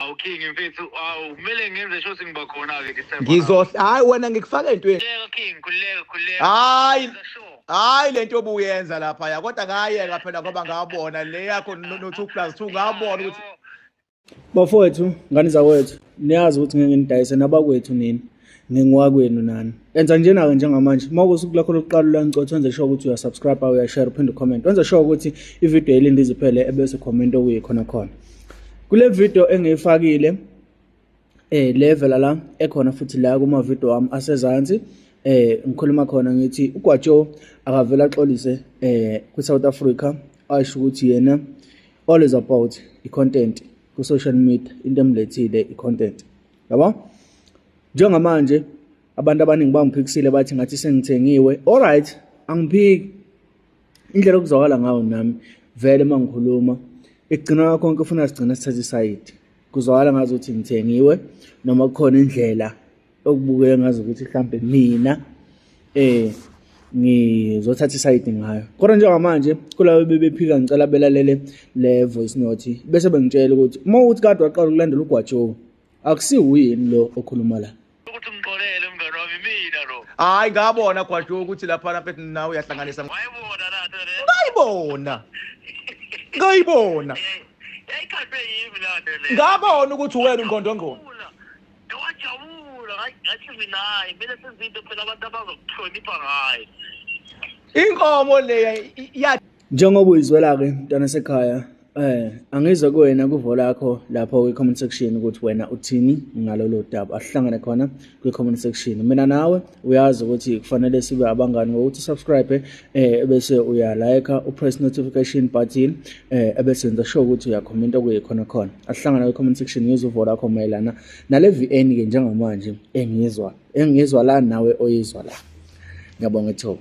Awu King mfethu awu kumele ngenze sho ukuthi ngiba khona ke December. Ngizohle hayi wena ngikufaka entweni. Khuleka King khuleka khuleka. Hayi. Hayi lento obuyenza lapha ya kodwa ngayeka phela ngoba ngabona le yakho no 2 plus 2 ngabona ukuthi Bafowethu ngani zakwethu niyazi ukuthi ngeke nidayise nabakwethu nini. ngingowakwenu nani enza njena-ke njengamanje uma kusuku lakho lokuqala ulancothi wenze sure ukuthi uyasubscribe uyashare uphinde ucomment wenze sure ukuthi ividiyo yelinde iziphele ebese comment okuye khona khona kule vidiyo engiyifakile um eh, le vela la ekhona futhi la kumavidiyo wami asezansi eh ngikhuluma khona ngithi uGwajo akavela axolise eh kwiSouth Africa asho ukuthi yena all is about i-content ku-social media into emlethile i-content yabo njengamanje abantu abaningi bangiphikisile bathi ngathi sengithengiwe all right angiphiki indlela okuzwakala ngayo nami vele uma ngikhuluma ekugcina kwakho konke ufuna sigcina sithathe isayidi kuzwakala ngazi ukuthi ngithengiwe noma kukhona indlela okubukeka ngazi ukuthi mhlampe mina eh ngizothatha isayidi ngayo kodwa njengamanje kulabo bebephika ngicela belalele le voice note bese bengitshela ukuthi uma uthi kade waqala ukulandela ugwajowo akusiwuyini lo okhuluma la ukuthi ngixolele mngane wami mina lo hayi ngabona gwajowo ukuthi laphana mfethu nawe uyahlanganisa wayibona lato le ngayibona ngayibona yayikhathwe yimi lato le ngabona ukuthi wena ungondongona Ngiyajabula hayi ngathi mina hayi kumele senze into phela abantu abazokuhlonipha ngayo. Inkomo leya ya Njengoba uyizwela ke mntana sekhaya eh angizwe kuwena kuvo lakho lapho kwi comment section ukuthi wena uthini ngalolo daba asihlangane khona kwi comment section mina nawe uyazi ukuthi kufanele sibe abangani ngokuthi subscribe eh bese uya like upress notification button eh ebese nza show ukuthi uya comment okuye khona khona asihlangana kwi comment section ngizwe uvo lakho mayelana nale VN ke njengamanje engizwa engizwa la nawe oyizwa la ngiyabonga ithuba